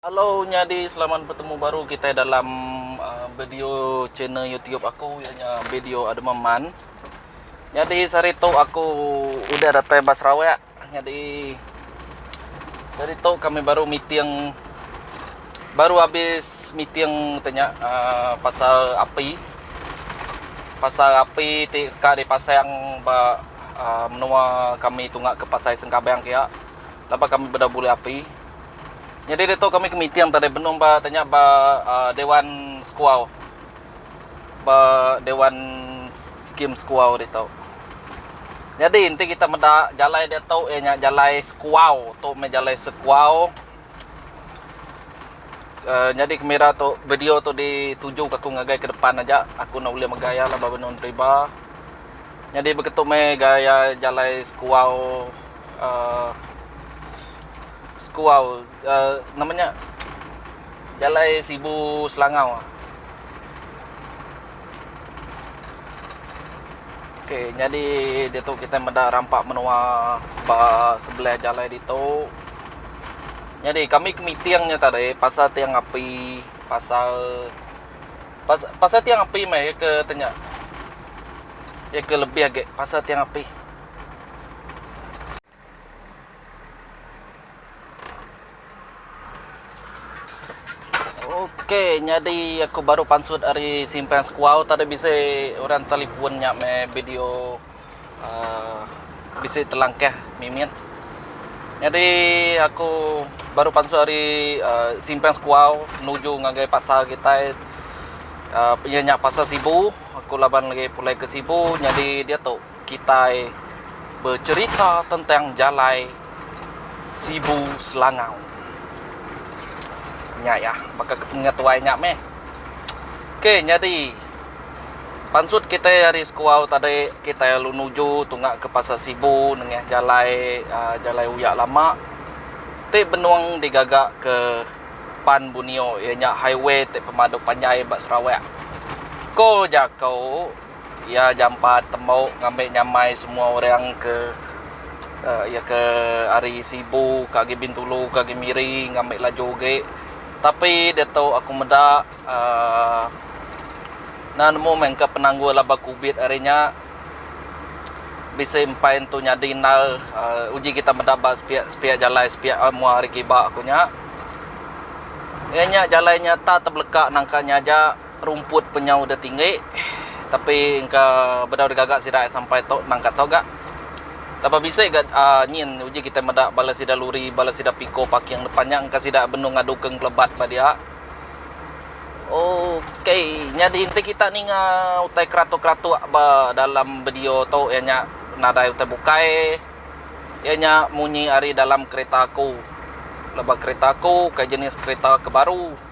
Hello nyadi selamat betemu baru kitai dalam video channel YouTube aku iya nya video Ademam Man. Nyadi sehari tu aku udah datai ba Sarawak. Nyadi sehari tu kami baru meeting baru habis meeting tanya uh, pasal api pasal api ti ka dipasang ba uh, menua kami tunga ke Pasai Sengkabang kia. Laba kami beda bulih api. Nyadi ditu kami ke meeting tadi benung ba nya tanya ba dewan sekuau ba dewan skim sekuau ditu. Nyadi enti kita meda jalai ditu iya nya jalai sekuau tu meh jalai sekuau uhh nyadi kemira tu video tu dituju ka ku ngagai ke depan aja aku enda ulih mega iya laban benung deriba. Nyadi begitu meh gaya jalai sekuau uhh. sekuau nama nya jalai sibu selangau ok nyadi ditu kitai meda rampa menua ba sebelah jalai ditu nyadi kami ke miting nya tadi pasal tiang api pasal pasal tiang api meh iya ke tu nya iya ke lebih agi pasal tiang api. Ok nyadi aku baru pansut ari simpang sekuau tadi bisi orang telefon nya meh video uhh bisi telangkah mimit. Nyadi aku baru pansut ari uhh simpang sekuau nuju ngagai pasar kitai uhh iya nya pasar sibu aku laban agi pulai ke sibu nyadi diatu. kitai becerita tentang jalai Sibu Selangau. Nya iya, baka ketemunya tuai nya meh. Okey, nyadi pansut kitai ari Sekuau tadi, kitai lalu nuju tunga ke Pasar Sibu nengah jalai uh, jalai uya lama ti benung digaga ke Pan Bunio iya nya highway ti pemadu panjai ba Sarawak. Ko jaku Iya jampat tembu ngambi nyamai semua orang ke iya ke ari Sibu ke agi Bintulu ke agi Miri ngambi laju agi tapi diatu aku meda aaa enda nemu meh engka penanggul laban kubit ari nya bisi empai tu nyadi endar uji kita meda ba sepiak jalai sepiak mua ari giba aku nya iya nya jalai nya tak tebelaka nangka nya aja Rumput penyau da tinggi tapi engka bedau digaga sida ai sampai tu nangka tu ga. Laban bisi ga uhh nyin uji kitai meda bala sida luri bala sida piko paking depan nya engka sida benung ngadu ke engkelebat ba dia. Ok nyadi enti kita ninga utai keratok-keratok ba dalam video tu iya nya nadai utai bukai iya nya munyi ari dalam kereta aku. Laban kereta aku ukai jenis kereta ke baru.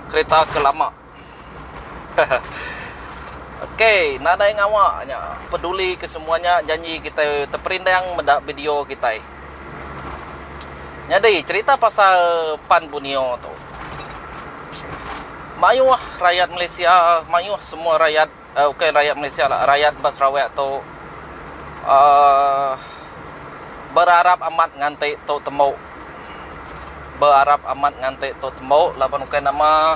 kereta ke lama. ok nadai ngawa nya peduli ke semua nya janji kitai teperindang meda video kitai. Nyadi cerita pasal Pan Bunio tu. Mayuh rayat Malaysia mayuh semua rayat Uh ukai rayat Malaysia lah rayat ba Sarawak tu uh berarap amat nganti tu temu berarap amat nganti tu temu laban ukai nama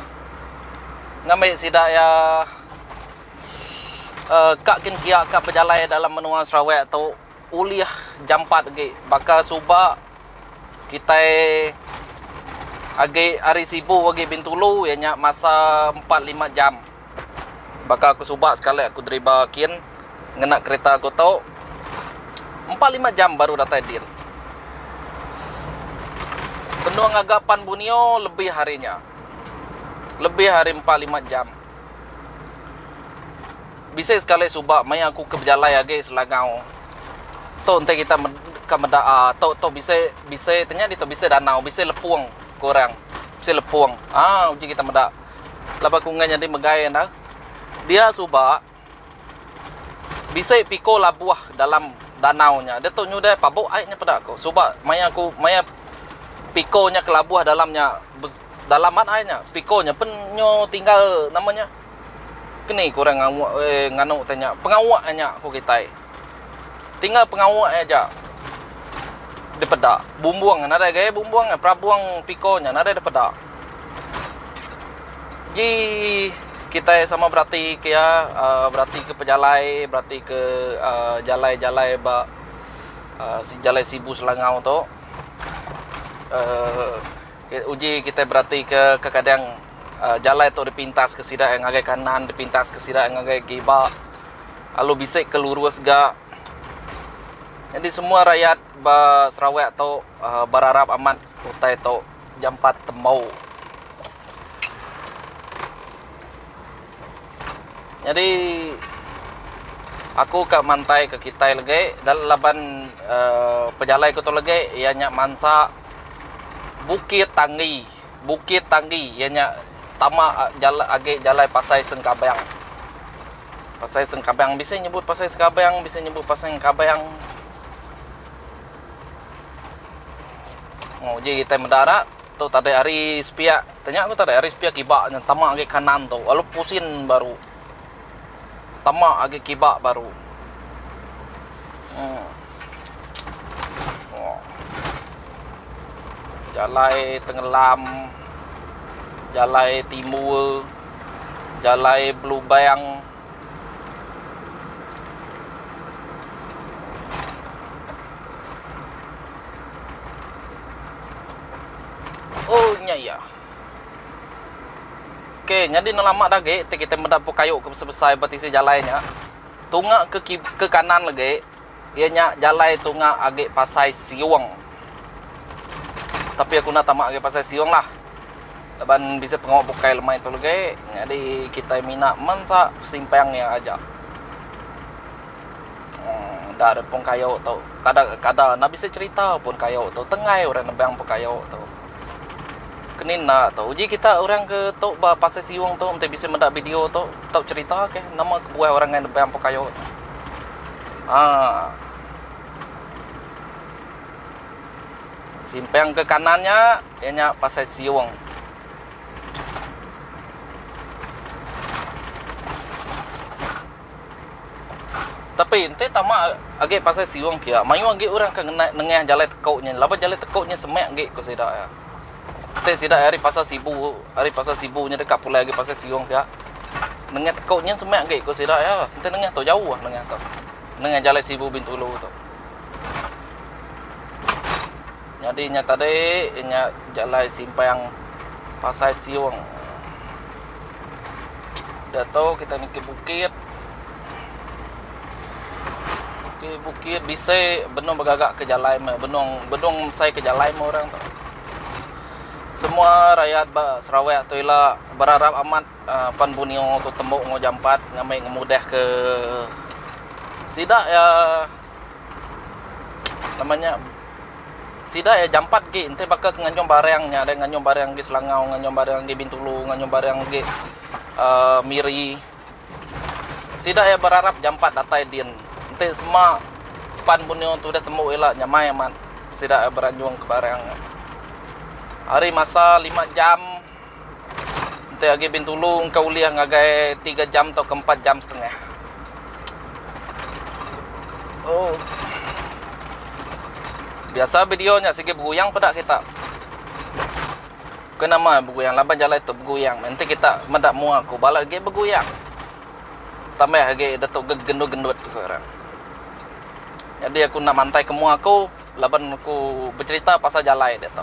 ngambi sida iya uh ka gin kia ka bejalai dalam menua Sarawak tu ulih jampat agi baka suba kitai agi hari sibu agi Bintulu iya nya masa empat lima jam. Baka aku suba sekali aku deriba kin ngena kereta aku tu empat lima jam baru datai din. Benung ngaga pan Bunio lebih ari nya. Lebih ari empat lima jam. Bisi sekali suba maya aku ke bejalai agi Selangau. Tu enti kita ka meda a tu tu bisi bisi tu nya ditu bisi danau bisi lepung ku orang. Bisi lepung. Aa uji kita meda. laban aku enggai nyadi megai enda. Dia suba bisi piko labuh dalam danau nya. Diatu nyudah pabok ai nya peda aku. Suba maya aku maya piko nya kelabuh dalam nya dalam mat ai nya. Piko nya pen nyo tinggal nama nya keni ku orang ngau eh nganu tanya pengawa nya ku kitai. Tinggal pengawa iya aja dipeda. Bumbung nadai gaya bumbung iya, perabung piko nya nadai dipeda. Ji kitai sama berati ke iya, berati ke pejalai, berati ke jalai-jalai ba jalai sibu Selangau tu. Uji kitai beratika kekadang jalai tu dipintas ke sida ngagai kanan dipintas ke sida ngagai giba lalu bisi ke lurus ga nyadi semua rayat ba Sarawak tu berarap amat utai tu jampat tembau. Nyadi aku ka mantai ke kitai legi laban pejalai ku tu legi iya nya mansa Bukit Tanggi Bukit Tanggi iya nya tama agi jalai Pasai Sengkabang. Pasai Sengkabang bisi nyebut Pasai Sengkabang bisi nyebut Pasai Engkabang. Oh uji kitai meda dak tu tadi hari sepiak tanya ku tadi hari sepiak kiba nya tama agi kanan tu lalu pusin baru tama agi kiba baru. Em. Jalai Tengelam, Jalai Timur, Jalai Belubang, Oh nya iya. Okey, nyadi ne lama dah agi ti kita meda pun kayu ke besai-besai betisi jalai nya. Tunga ke ki ke kanan agi. Iya nya jalai tunga agi pasai siung. Tapi aku enda tama agi pasai siung lah. Laban bisi pengawa bukai lemai tu legi. Nyadi kitai mina mensa simpang iya aja. Enda repong kayu tu. Kada kada enda bisi cerita pun kayu tu. Tenggai orang nebang pun kayu tu. Keni enda tu uji kita orang ke tu ba pasir siung tu enti bisi meda video tu tau cerita ke nama kebuah orang ngai nebang pekayo tu. Haa. Simpang ke kanan nya iya nya pasir siung. Tapi enti tama agi pasal siung kia, mayuh agi orang ke ngena nengah jalai teko nya laban jalai teko nya semak agi ku sida iya. Enti sida ari pasal sibu, ari pasal sibu nya deka pulai agi pasal siung kia, nengah teko nyin semak agi ku sida iya. Enti nengah tu jauh nengah tu. Nengah jalai sibu bintulu tu. Nyadi nya tadi nya jalai simpang pasai siung diatu kita niki bukit niki bukit bisi benung begaga ke jalai meh benung benung mesai ke jalai meh orang tu semua rakyat ba sarawak tu ila berarap amat pan bunio tu tembu enggau jampat ngambi ngemudahka sida iya. Nama nya sida iya jampat agi enti baka ke nganjung barang nya deh nganjung barang agi Selangau nganjung barang agi Bintulu nganjung barang agi aaa Miri sida iya berarap jampat datai din enti sema pan benung tu deh tembu ila nyamai amat sida beranjung ke barang nya. Ari masa lima jam. Enti agi Bintulu engka ulih ngagai tiga jam tauka empat jam setengah. Oh. Biasa video nya sigi beguyang peda kita. Bukan nama beguyang laban jalai tu beguyang. Enti kita meda mua aku bala agi beguyang. Tambah agi detu gegendut-gendut ku orang. Jadi aku enda mantai ke mua aku laban aku becerita pasal jalai dia tu.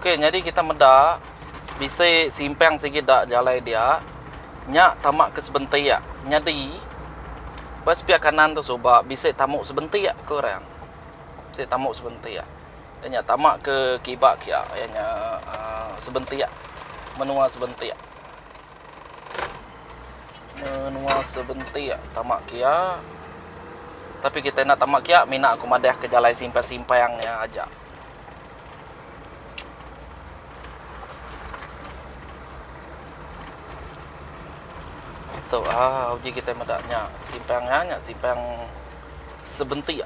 Okey nyadi kita meda bisi simpang sigi da jalai dia nya tama ke sebentik nyadi ba sepiak kanan tu suba bisi tamu sebentik ku orang. Bisi tamu sebentik da nya tama ke kiba kia iya nya aaa sebentik menua sebentik. Menua sebentik tama kia. Tapi kita enda tama kia mina aku madah ke jalai simpang-simpang nya aja. Itu a ah, uji kita meda nya simpang nya nya simpang sebentik.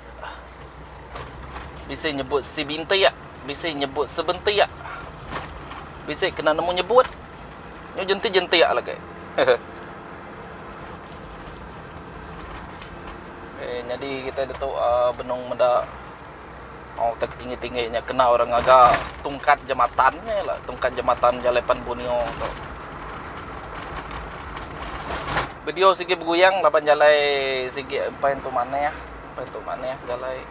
Bisi nyebut si bintik, bisi nyebut sebentik. Bisi kena nemu nyebut. Nyu jentik jentik alagi. Eh nyadi kita ditu uh, benung meda oh tak tinggi tinggi nya kena orang ngaga tungkat jematan nya lah tungkat jematan jalai pan bunio tu. Video sigi beguyang laban jalai sigi empai tu maneh, empai tu maneh jalai.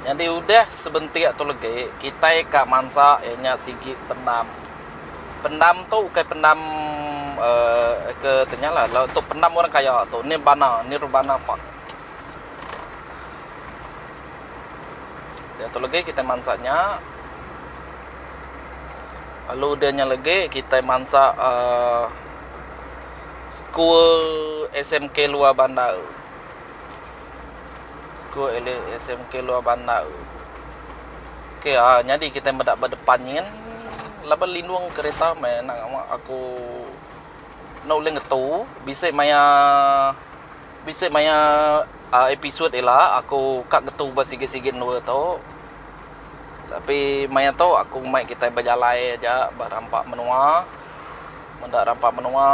Nyadi udah sebentik tu legi kitai ka mansa iya nya sigi pendam. Pendam tu ukai pendam uhh ke tu nya lah tu pendam orang kaya tu ni bana ni rebana pak. Diatu legi kitai mansa nya lalu dia nya legi kitai mansa aaa school SMK luar bandar. School SMK luar bandar. Ok aaa nyadi kitai meda ba depan nyin laban lindung kereta meh nang aku enda ulih ngetu bisi maya Bisi maya episode ila aku ka getu ba sigi-sigi endur tu. Tapi maya tu aku mai kitai bejalai aja ba rampa menua. Mun enda rampa menua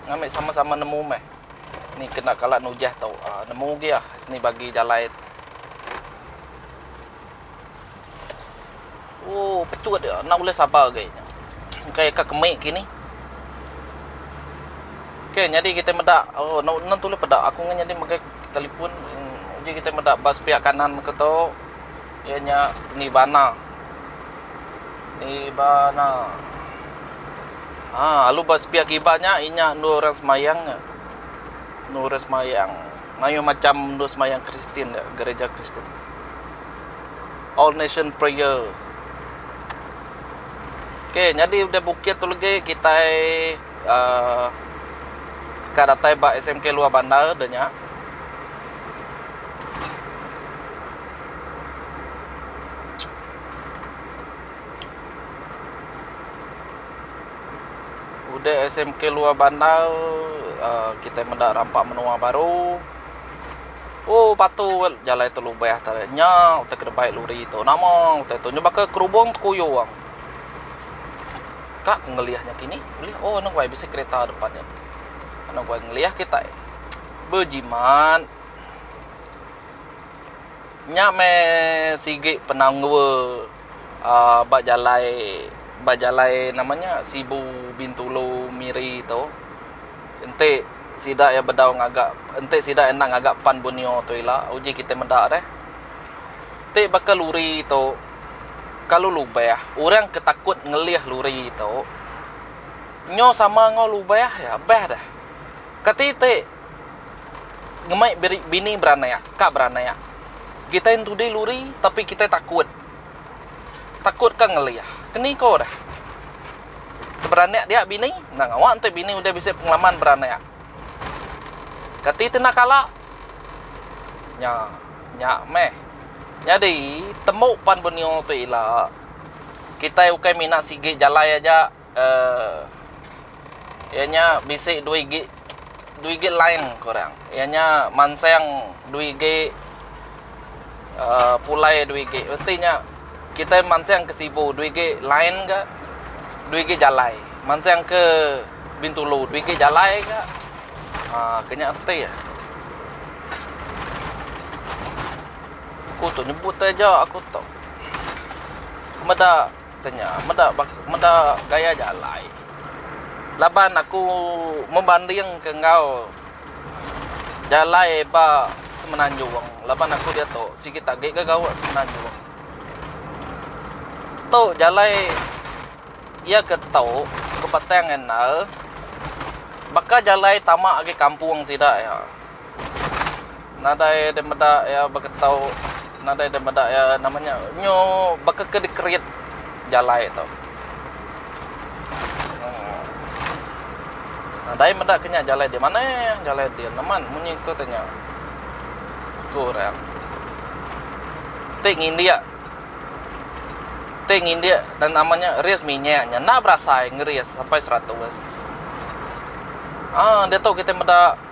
ngambi sama-sama nemu meh ni kena kala nujah tu. Nemu gih ah ni bagi jalai. Oh patut dia enda ulih sabar agi nya. Engkai ka kemi kini. Okey nyadi kita meda oh enda enda tulih peda aku ngah nyadi megai telefon uji kita meda ba sepiak kanan muka tu iya nya Nirvana. Nirvana. Ah lalu ba sepiak kiba nya inya endur orang semayang nya. Endur orang semayang. Mayuh macham endur semayang Kristin da gerija Kristin. All Nation Prayer. Ok, nyadi udah bukit tu legi kitai uh, ka datai ba SMK luar bandar da nya. Udah SMK luar bandar uhh kitai meda rampa menua baru uhh patu jalai tu lubah tau deh nya utai kedebai lori tu nama utai tu nya baka kerubong tekuyung ka ku ngelih nya kini ulih oh eno wai bisi kereta depan nya eno wai ngelih kitai bejimat nya meh sigi penanggul. ba jalai ba jalai nama nya Sibu Bintulu Miri tu enti sida iya bedau ngaga enti sida enda ngaga pan Borneo tu ila uji kitai meda deh ti baka lori tu kalu lubeh orang ke takut ngelih lori tu nyau sama enggau lubeh iya beh deh kati ti Ngemai biri bini beranak ka beranak. Kitai entudi luri tapi kitai takut. Takut ka ngelih. Keni ko deh. Beranak dia bini, endang awak enti bini udah bisi pengalaman beranak. Kati tena kala? Nya, nya meh. Nyadi, tembu pan benua tu ila. Kitai ukai mina sigi jalai aja. uhh iya nya bisi due igi due igi line ku orang iya nya mansang due igi uhh pulai due igi reti nya kitai mansang ke sibu due igi line ka due igi jalai mansang ke bintulu due igi jalai ka uhh ke nya reti ah ku tu nyebut aja aku tu meda. Kata nya, meda meda gaya aja alai. Laban aku membandingka enggau jalai ba semenanjung laban aku diatu sigi agi ga gawa semenanjung. Tu jalai iya ke tau ke Batang Indah baka jalai tama agi kampung sida iya. nadai deh meda iya baka tau nadai deh meda iya nama nya nyu baka ke dikerit jalai tu uhh nadai meda ke nya jalai di maneh jalai di neman munyi ku teh nya ku orang ti ngindik ti ngindik dan nama nya ris minyak nya enda berasai ngeris sampai seratus uhh diatu kitai meda.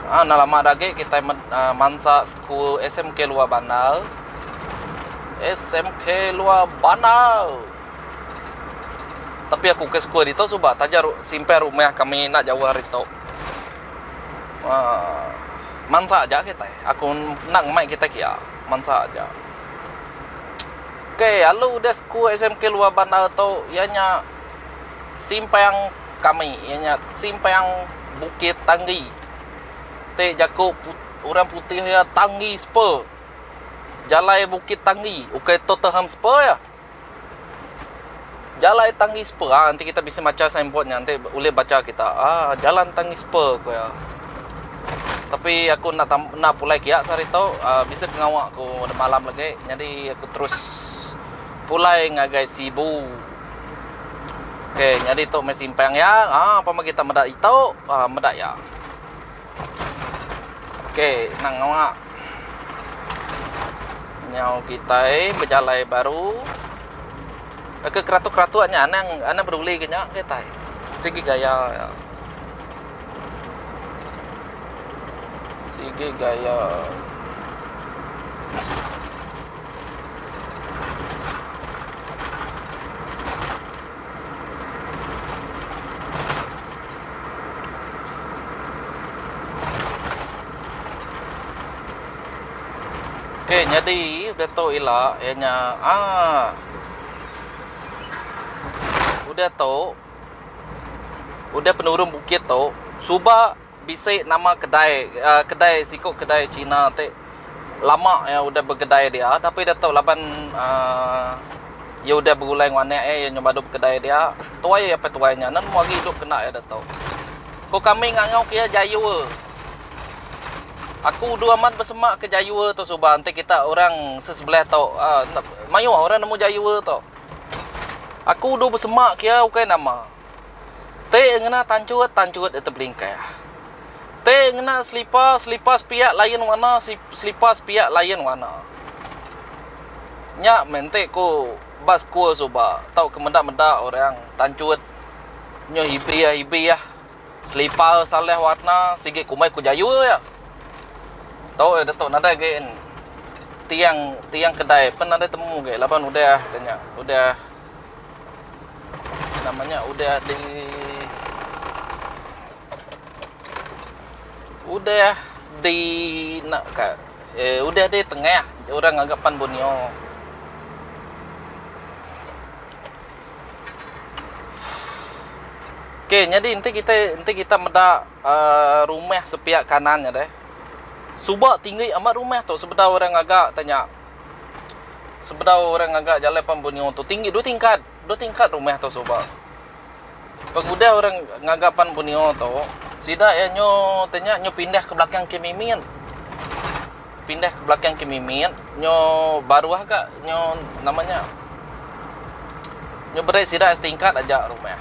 Ah enda lama da agi kitai med aaa mansa school SMK Luar Bandar. SMK Luar Bandar. Tapi aku ke school ditu suba taja ru simpan rumah kami enda jauh ari tu. Aaa mansa aja kitai. Aku enda ngemai kitai kia. Mansa aja. Okey alu udah school SMK Luar Bandar tu iya nya simpang kami iya nya simpang Bukit Tanggi ti jaku orang putih iya Tanggi Spur jalai Bukit Tanggi ukai Tottenham Spur iya jalai Tanggi Spur ha enti kita bisi macha sign board nya enti ulih bacha kita ha jalan Tanggi Spur ku iya tapi aku enda tam enda pulai kiya ke hari tu bisi pengawa ku malam agi nyadi aku terus pulai ngagai Sibu. Ok nyadi tu meh simpang iya ha apan bagi kita meda itu ha meda iya ok nang nganga nyau kitai bejalai baru ke keratuk-keratuk nya anang anang peduli ga nya kitai sigi gaya iya sigi gaya. Okey nyadi udah tu ila iya nya aa udah tu udah penurung bukit tu suba Bisi nama kedai kedai siku kedai China ti lama iya udah bekedai dia tapi dia tu laban uhh iya udah begulai enggau anak iya iya nyau badu bekedai dia tuai iya apai tuai nya nan agi idup kena iya ditu. Ko kami ngangau ke iya jayur. Aku udu amat besema ke jayur tu suba enti kita orang sesebelah tu uhh enda mayuh orang nemu jayur tu. Aku udu besema ke iya ukai nama. Te ngena tanchut, tanchut iti belingkah. Te ngena selipa, selipa sepiak lain warna, selipa sepiak lain warna. Nya meh enti ku ba sekul suba tauka meda-meda orang tanchut nyuh ibih-ibih, selipa salah warna, sigi kumbai ku jayu iya. Tu iya ditu nadai agi tiang, tiang kedai pun nadai temu agi laban udah nya, udah. Nama nya udah di udah di nak ka eh, udah di tengah orang ngaga pan bunyo. Okey, jadi enti kita enti kita meda uh, rumah sepiak kanan nya deh. Suba tinggi amat rumah tu sebedau orang ngaga tanya Sebedau orang ngaga jalai pan benyo tu tinggi dua tingkat, dua tingkat rumah tu suba. Pengudah orang ngaga pan benyo tu sida iya nyo tanya nyo pindah ke belakang ke mimit. Pindah ke belakang ke mimit nyo baruh aga nyo nama nya nyo berai sida setingkat aja rumah.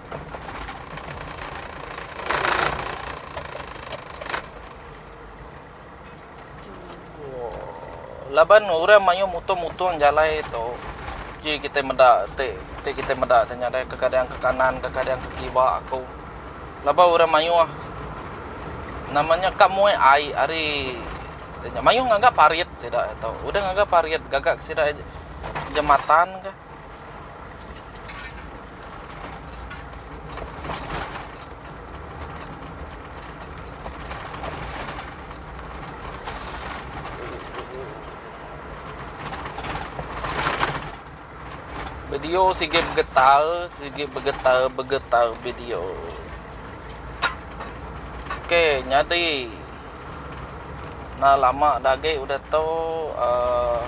Laban orang mayuh mutung-mutung jalai tu, ji kitai meda ti ti kitai meda ti nya deh kekadang ke kanan kekadang ke kiwa aku. Laban orang mayuh nama nya ka muai ai ari mayuh ngaga parit sida tu. Udah ngaga parit gaga sida jematan kah. Video sigi bergetar, sigi bergetar, bergetar video. Okey, nyadi. Nah, lama dagi udah tu uh,